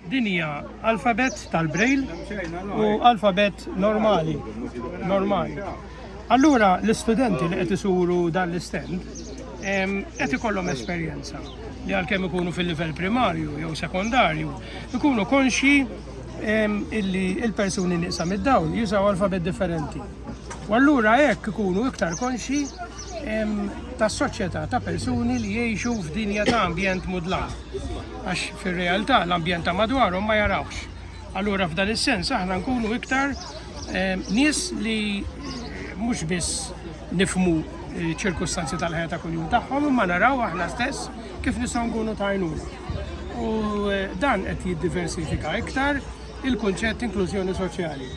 Din hija alfabet tal-brejl u alfabet normali. Normali. Allura l-istudenti li qed isuru dan l-istand qed ikollhom esperjenza li għalkemm ikunu fil-livell primarju jew sekondarju, ikunu konxi illi il-persuni nieqsa mid-dawl jużaw alfabet differenti. U allura hekk ikunu iktar konxi tas-soċjetà ta' persuni li jgħixu f'dinja ta' ambjent mudlat. Għax fir-realtà l-ambjent ta' madwarhom ma jarawhx. Allura f'dan is-sens aħna nkunu iktar nies li mhux biss nifhmu ċirkustanzi tal-ħajja ta' kuljum tagħhom imma naraw aħna stess kif nistgħu nkunu tajnuna. U eh, dan qed jiddiversifika iktar il-kunċett inklużjoni soċjali.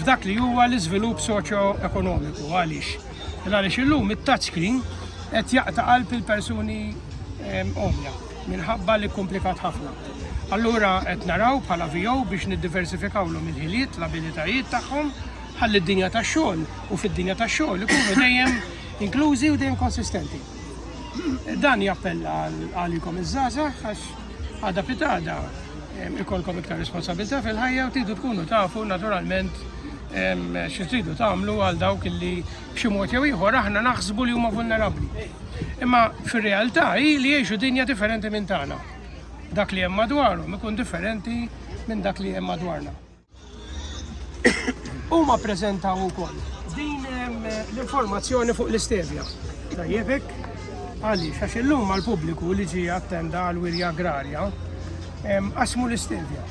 F'dak li huwa l-iżvilupp soċjo-ekonomiku għaliex. Għaliex illum it-touchscreen qed jaqta' qalb il-persuni eh, omja. minħabba li kkumplikat ħafna. Allura qed naraw bħala VO biex niddiversifikawlhom il-ħiliet, l-abilitajiet tagħhom ħalli d-dinja tax-xogħol u fid-dinja tax-xogħol ikunu dejjem inklużi u dejjem konsistenti. Dan jappella għalikom iż-żgħażagħ għax għada pitada ikolkom iktar responsabilità fil-ħajja u tidu tkunu tafu naturalment xi tridu tagħmlu għal dawk li B'xi mod jew ieħor aħna naħsbu li huma vulnerabbli. Imma fir-realtà hi li jgħixu dinja differenti minn tagħna. Dak li hemm madwarhom ikun differenti minn dak li hemm madwarna. Huma ppreżentaw ukoll din ehm, l-informazzjoni fuq l-istevja. Tajjebek, għaliex għax illum mal-pubbliku li ġie attenda għal wirja agrarja ehm, qasmu l-istevja.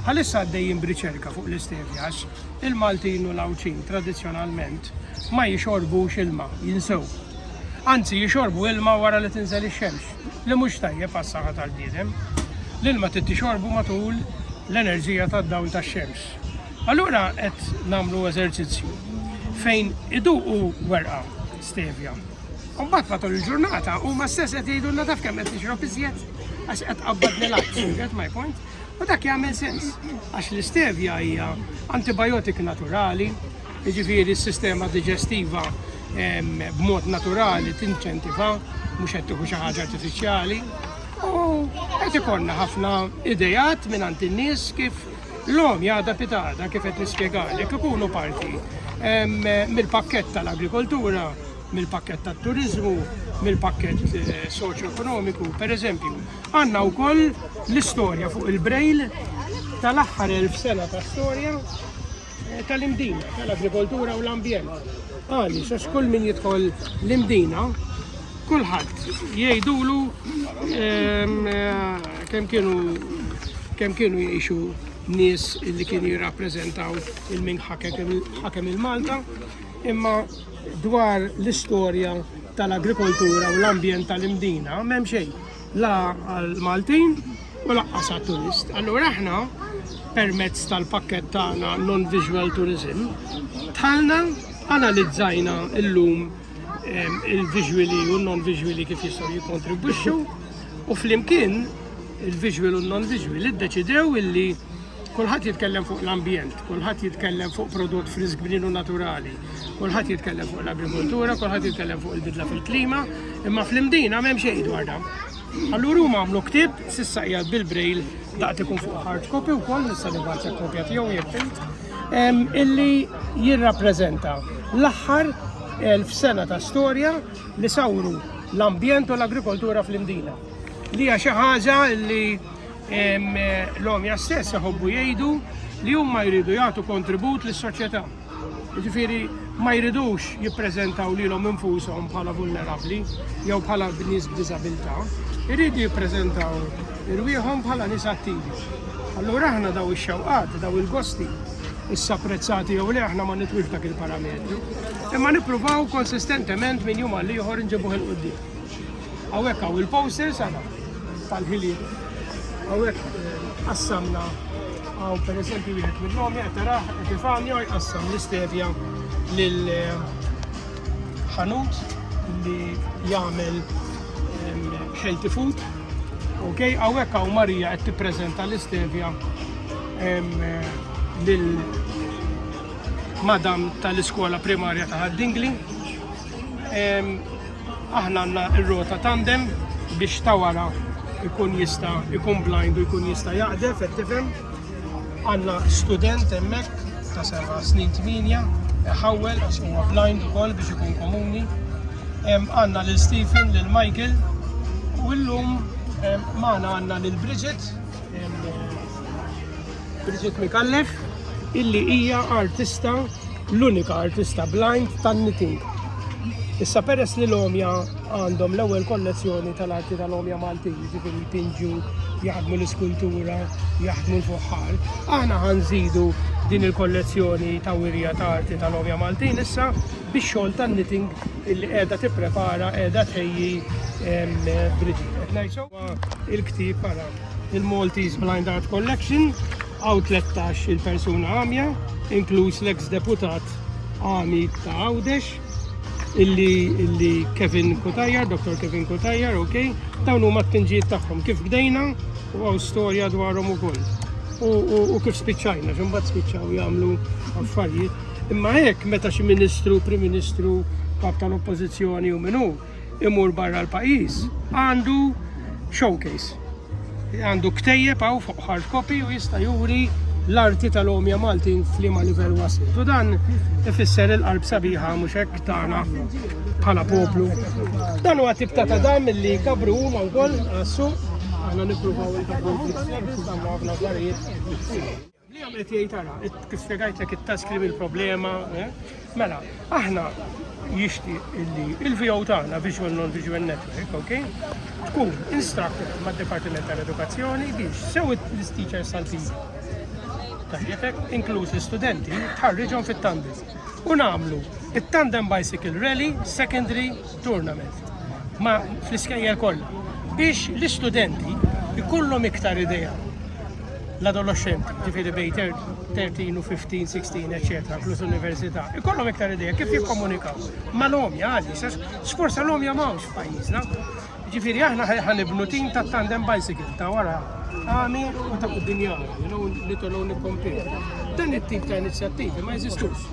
Għalissa għaddejjin briċerka fuq l-istevja għax Il-Maltin u l-Għawdxin tradizzjonalment ma jixorbux ilma, jinsew. Anzi jixorbu ilma wara li tinżel ix-xemx, li mhux tajjeb għas-saħħa tal-bniedem. L-ilma trid tixorbu matul l-enerġija tad-dawl tax-xemx. Allura qed nagħmlu eżerċizzju fejn iduqu werqa stevja. U mbagħad matul il-ġurnata huma stess qed jgħidulna taf kemm qed nixrob iżjed għax qed qabbadni l-għaks, get my point? U dak jagħmel sens, għax l-istevja hija antibiotik naturali, jiġifieri s-sistema diġestiva b'mod naturali tinċentiva mhux qed tieħu xi ħaġa artifiċjali. U qed ikollna ħafna idejat minn għand in-nies kif l-om jgħada pitada kif qed nispjegalek ikunu parti mill-pakkett tal-agrikoltura, mill-pakkett tat-turizmu, mill-pakkett eh, soċjo-ekonomiku, per eżempju, Għandna wkoll l-istorja fuq il-Braille tal-aħħar elf sena ta' storja eh, tal-imdina, tal-agrikoltura u l-ambjent. Għaliex għax kull min jidħol l-imdina kulħadd jgħidulu ehm, eh, kemm kienu kemm kienu jgħixu nies li kienu jirrappreżentaw il-min ħakem il-Malta, imma dwar l-istorja tal-agrikoltura u l-ambjent tal-imdina m'hemm xejn. la għall-Maltin u laqqas għat-turist. Allura aħna permezz tal-pakket tagħna non-visual tourism tħalna analizzajna illum ehm, il-visuali u non-visuali kif jistgħu jikkontribwixxu u flimkien il-visual u non-visual iddeċidew illi Kulħadd jitkellem fuq l-ambjent, kulħadd jitkellem fuq prodott frisk bninu naturali, kulħadd jitkellem fuq l-agrikoltura, kulħadd jitkellem fuq il-bidla fil-klima, imma fl-imdina m'hemm xejn dwar dan. Allura huma għamlu ktieb sissa qiegħed bil-brail daqt ikun fuq hard copy wkoll nista' nibgħat kopja tiegħu jekk illi jirrappreżenta l-aħħar elf sena ta' storja li sawru l-ambjent u l-agrikoltura fl-imdina. Li hija xi ħaġa li L-għomja stess iħobbu jgħidu li huma jridu jagħtu kontribut lis-soċjetà. Jiġifieri ma jridux jippreżentaw lilhom infushom bħala vulnerabbli jew bħala nies b'diżabilità, jridu jippreżentaw irwieħhom bħala nies attivi. Allura aħna daw ix-xewqat, daw il-gosti, issa prezzati jew li aħna ma nitwix dak il-parametru, imma nippruvaw konsistentement minn jum għal ieħor nġibuh il-qudiem. Hawnhekk hawn il-posters ara tal-ħiliet. Hawnhekk eh, qassamna hawn pereżempju wieħed minnhom qed taraħ Epifanio jqassam l-istevja lil eh, ħanut li jagħmel healthy food. Ok, għawek għaw Marija għed t-prezenta l-istevja eh, lil madam tal-iskola primarja ta' Dingli. Aħna għandna r-rota tandem biex ta' wara ikun jista' ikun blind u jkun jista' jaqdef qed tifhem. Għandna student hemmhekk ta' seba' snin tminja ħawwel għax huwa blind ukoll biex ikun komuni. Għandna lil Stephen, lil Michael u llum magħna għandna lil Bridget Bridget Micallef illi hija artista l-unika artista blind tan-knitting. Issa peress li l-omja għandhom l-ewwel kollezzjoni tal-arti tal-omja Maltin, jiġifieri jpinġu, jaħdmu l-iskultura, jaħdmu l-fuħħar, aħna ħanżidu din il-kollezzjoni ta' wirja ta' arti tal-omja Maltin issa biex xogħol tan-knitting illi qiegħda tipprepara qiegħda tħejji Bridget. Il-ktieb para il-Maltese Blind Art Collection għaw 13 il-persuna għamja, inkluż l-ex-deputat għami ta' Għawdex, illi, illi Kevin Kutajar, Dr. Kevin Kutajar, ok, dawn huma t-tinġiet tagħhom kif bdejna u għaw storja dwarhom ukoll. U, u, u kif spiċċajna, x'imbagħad spiċċaw jagħmlu affarijiet. Imma hekk meta xi ministru, prim ministru, kap tal-oppożizzjoni u minnu, imur barra l-pajjiż għandu showcase. Għandu ktejjeb hawn fuq hard copy u jista' juri l-arti tal-omja Maltin f'liema livell waslu. U dan ifisser il-qalb sabiħa mhux hekk tagħna bħala poplu. Dan huwa tip ta' tadam li kabru huma wkoll għassu għandna nippruvaw il-kabru fl-istess, għandna għafna affarijiet. Li hemm qed jgħid ara, kif spjegajtlek it-taskrim il-problema, eh? mela, aħna jixti illi il-VO tagħna Visual Non Visual Network, ok? Tkun instructed mad departiment tal-Edukazzjoni biex sew l-teachers tal-PE tajjebek, inkluż l-studenti, tħarriġhom fit-tandem. U nagħmlu it-tandem bicycle rally, secondary, tournament ma fl-iskejjer kollha biex l-istudenti jkollhom iktar idea l-adolescenti, ġifiri bej 13 u 15, 16, etc. plus università, ikollhom iktar ideja kif jikkomunikaw. Ma l-om jgħalli, sforza l-om jgħamawx f'pajjiżna. Ġifiri aħna ħanibnu tim ta' tandem bicycle ta' wara għami u ta' kuddinjaw, li tollu nikkompli. Dan it-tip ta' inizjattivi ma jeżistux.